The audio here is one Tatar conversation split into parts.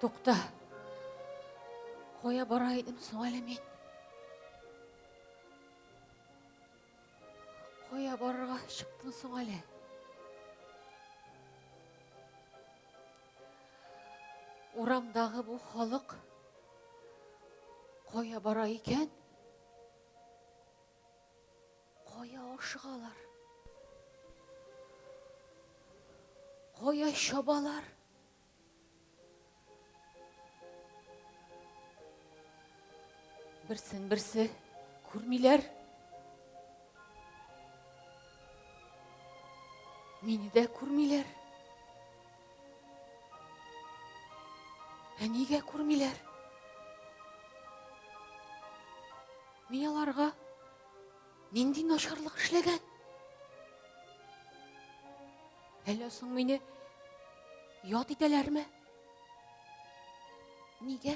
Тукта. Кая бара идем соң әле мин? Кая барырга чыктым соң әле? Урамдагы бу халык кая бара икән? Кая ашыгалар? Кая чабалар? Берсен берсе күрмиләр. Мине дә күрмиләр. Ә нигә күрмиләр? Мин аларга нинди начарлык эшләгән? Әллә соң мине ят итәләрме? Нигә?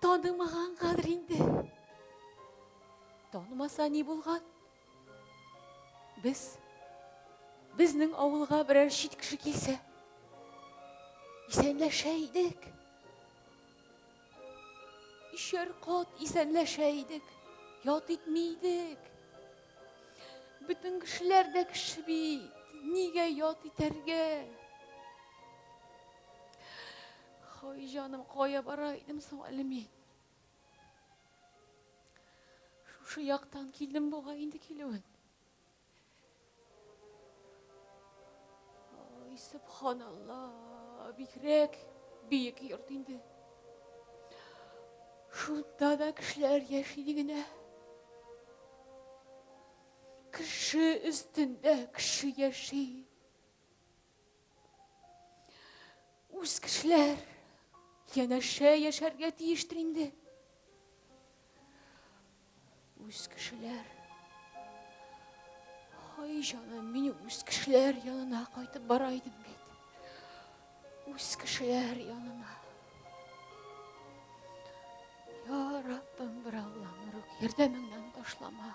Танымаганнардыр инде. Танымаса ни булган? Без безнең авылга берәр чит кеше килсә, исәнләшә идек. Ишәр кат исәнләшә идек, ят итми идек. Бөтен кешеләр дә кеше бит, нигә ят итәргә? Хай җаным, кая бара идем соң әле мин? Шушы яктан килдем бугай инде килүен. Ай, субханалла, бигрәк биек йорт инде. Шунда да кешеләр яши дигенә. Кеше өстендә кеше яши. Үз кешеләр янәшә яшәргә тиештер инде. Үз кешеләр. Ай җаным, мин үз кешеләр янына кайтып бара идем бит. Үз кешеләр янына. Я Раббым, бер Аллам, Ярдәмеңнән ташлама.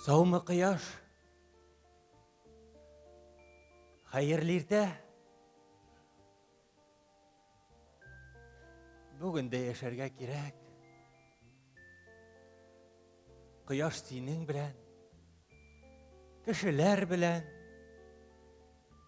Саумы кыяш? Хәерле иртә. Бүген дә яшәргә кирәк. Кыяш синең белән, кешеләр белән,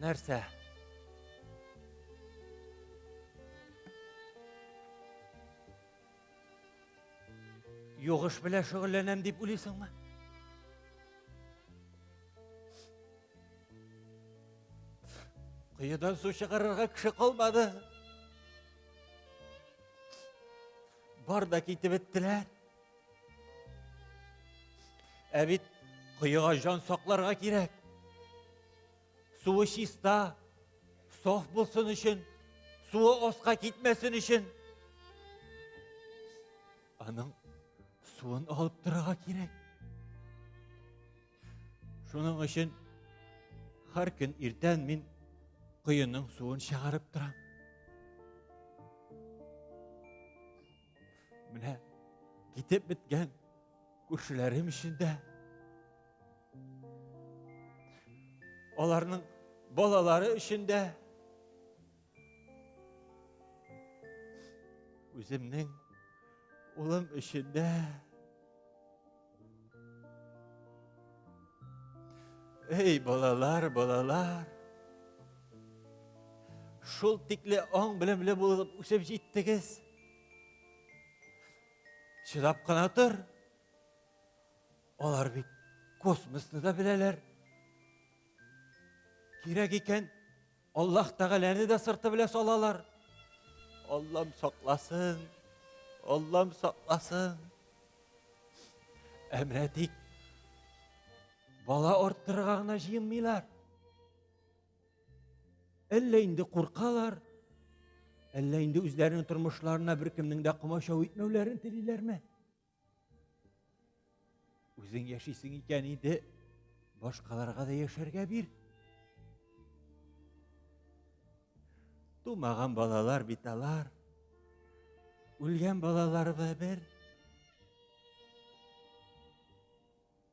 нәрсә югыш белән шөгыльләнәм дип уйлыйсыңмы коедан су чыгарырга кеше калмады Бар да китеп беттеләр. Ә бит коега жан сакларга кирәк. Суы чиста, соф булсын өчен, суы оска китмәсен өчен. Аның суын алып торырга кирәк. Шуның өчен һәр көн иртән мин коеның суын чыгарып торам. Менә китеп беткән күршеләрем өчен дә аларның балалары өчен дә Үземнең улым өчен дә Эй, балалар, балалар. Шул тикле аң белемле булып үсеп җиттегез. Чыдап кына тор. Алар бит космосны да беләләр. Кирәк икән, Аллаһ тәгаләне дә сырты белән салалар. Аллам сакласын, Аллам сакласын. Ә менә тик бала арттырырга гына җыенмыйлар. Әллә инде куркалар, әллә инде үзләренең тормышларына беркемнең дә комачау итмәүләрен телиләрме? Үзең яшисең икән инде, башкаларга да яшәргә бир. Тумаган балалар бит алар. Үлгән балалар да бер.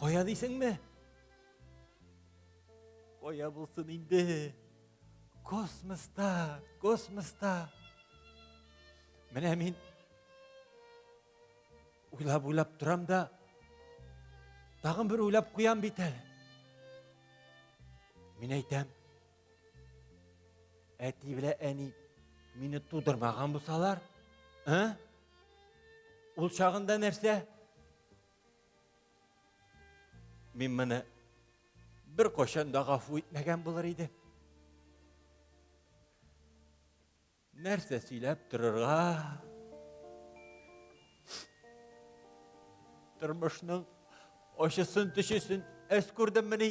Кая дисеңме? Кая булсын инде? Космоста, космоста. Менә мин уйлап уйлап торам да тагын бер уйлап куям бит әле. Мин әйтәм, әти белә әни мине тудырмаган булсалар, ә? Ул чагында нәрсә? Мин моны бер кошан да гафу итмәгән булыр иде. Нәрсә сөйләп торырга? Тормышның ошысын төшесен әс күрдем мени.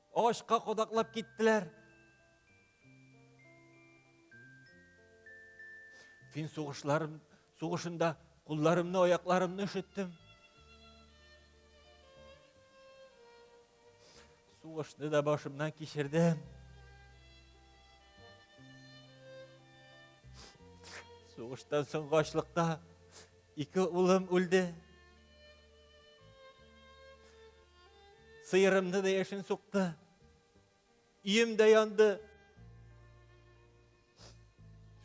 Агачка кадаклап киттеләр. Фин сугышларым, сугышында кулларымны, аякларымны өшеттем. Сугышны да башымнан кичердем. Сугыштан соң ачлыкта ике улым үлде. Сыерымны да яшен сукты. Ием дә янды.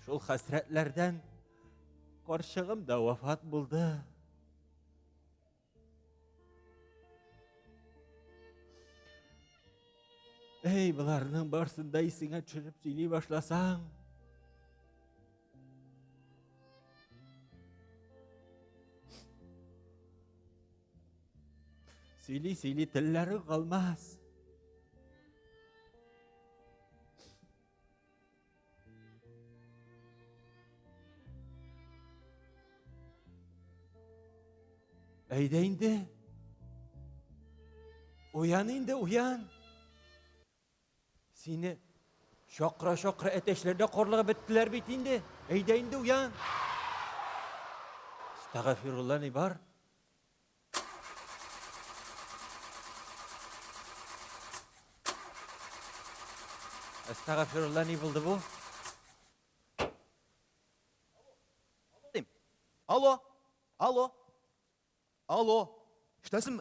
Шул хәсрәтләрдән карчыгым да вафат булды. Әй, боларның барсын да исеңә төшереп сөйли башласаң. Сөйли, сөйли, телләре калмас. Әйдә инде. Уян инде, уян. Сине чакыра-чакыра әтәчләр дә карлыгып беттеләр бит инде. Әйдә инде уян. Стагафирулла ни бар? Стагафирулла ни булды бу? Алло, алло, алло, штәсем,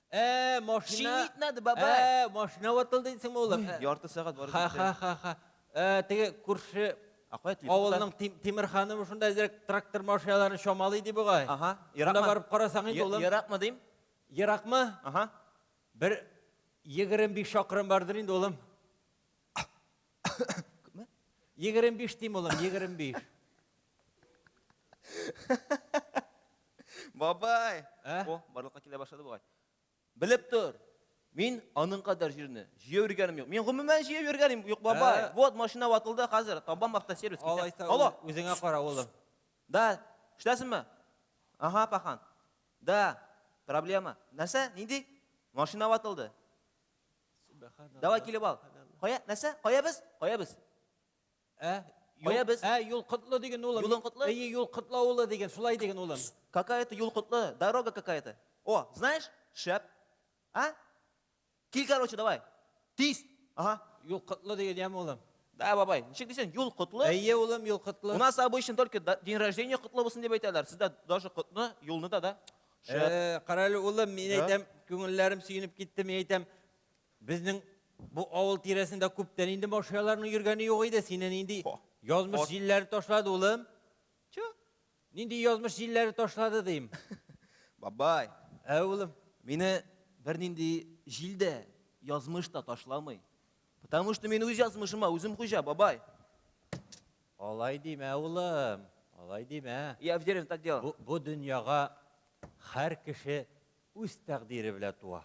Ә, машина. Чинитнады, бабай. Ә, машина ватылды дисеңме, улым? Ә, Ярты сәгать барып Ха, ха, ха, ха. Ә, теге күрше Ә кая телефон? авылның Тим- Тимер ханымы шунда әзрәк трактор машиналарын чамалый ди бугай. Ага, еракмы? Шунда барып карасаң инде, улым. Еракмы дим? Еракмы? Ага. Бер 25 чакрым бардыр инде, улым. Егерем биш дим, улым, егерем биш. Бабай! Ә? О, барлыкка килә башлады бугай. Белеп тор. Мин аның кадәр җирне җыю йөргәнем юк. Мин гомумән җыю йөргәнем юк, бабай. Ә? Вот машина ватылды хәзер. Табам автосервис китә. Алайса, Алло. ү- үзеңә кара, улым. Да, эшләсеңме? Ага, пахан. Да, проблема. Нәрсә? Нинди? Машина ватылды. Давай килеп ал. Кая, нәрсә? Кая без? Кая без? Ә? Кая без? Ә, юл котлы диген улым. Юлың котлы? Әйе, юл котлы авылы диген, шулай диген улым. Какая это юл котлы? Дорога какая-то. О, знаешь? Шәп. А? Кил, короче, давай. Тиз. Ага. Юл котлы диген яме улым. Да, бабай. Ничек дисең? Юл котлы? Әйе, улым, юл котлы. У нас обычно только день рождения котлы булсын дип әйтәләр. Сездә даже котны, юлны да, да? Шәп. Э, Кара әле, улым, мин Да. әйтәм, күңелләрем сөенеп китте, мин әйтәм, безнең бу авыл тирәсендә күптән инде машиналарның йөргәне юк иде. Сине нинди О, язмыш ат- җилләре ташлады, улым? Чо? Нинди язмыш җилләре ташлады, дим. Бабай, Ә, улым? мине бернинди җил дә, язмыш та ташламый. Потому что мин үз язмышыма үзем хуҗа, бабай. Алай димә, улым. Алай димә. Я в деревне так делал. Бу, бу дөньяга һәр кеше үз тәкъдире белән туа.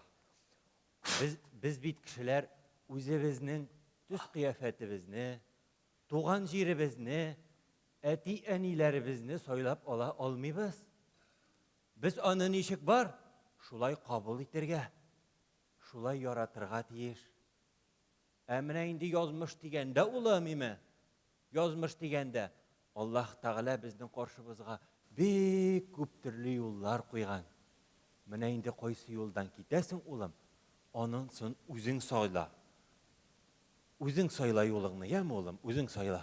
Без, без бит кешеләр үзебезнең төс кыяфәтебезне, туган җиребезне, әти-әниләребезне сайлап ала алмыйбыз. Без аны ничек бар, шулай кабул итергә. Шулай яратырга тиеш. Ә менә инде язмыш дигәндә ул әмиме? Язмыш дигәндә Аллаһ Тәгалә безнең каршыбызга бик күп төрле юллар куйган. Менә инде кайсы юлдан китәсең, улым, анынсын үзең сайла. Үзең сайла юлыңны, яме, улым, үзең сайла.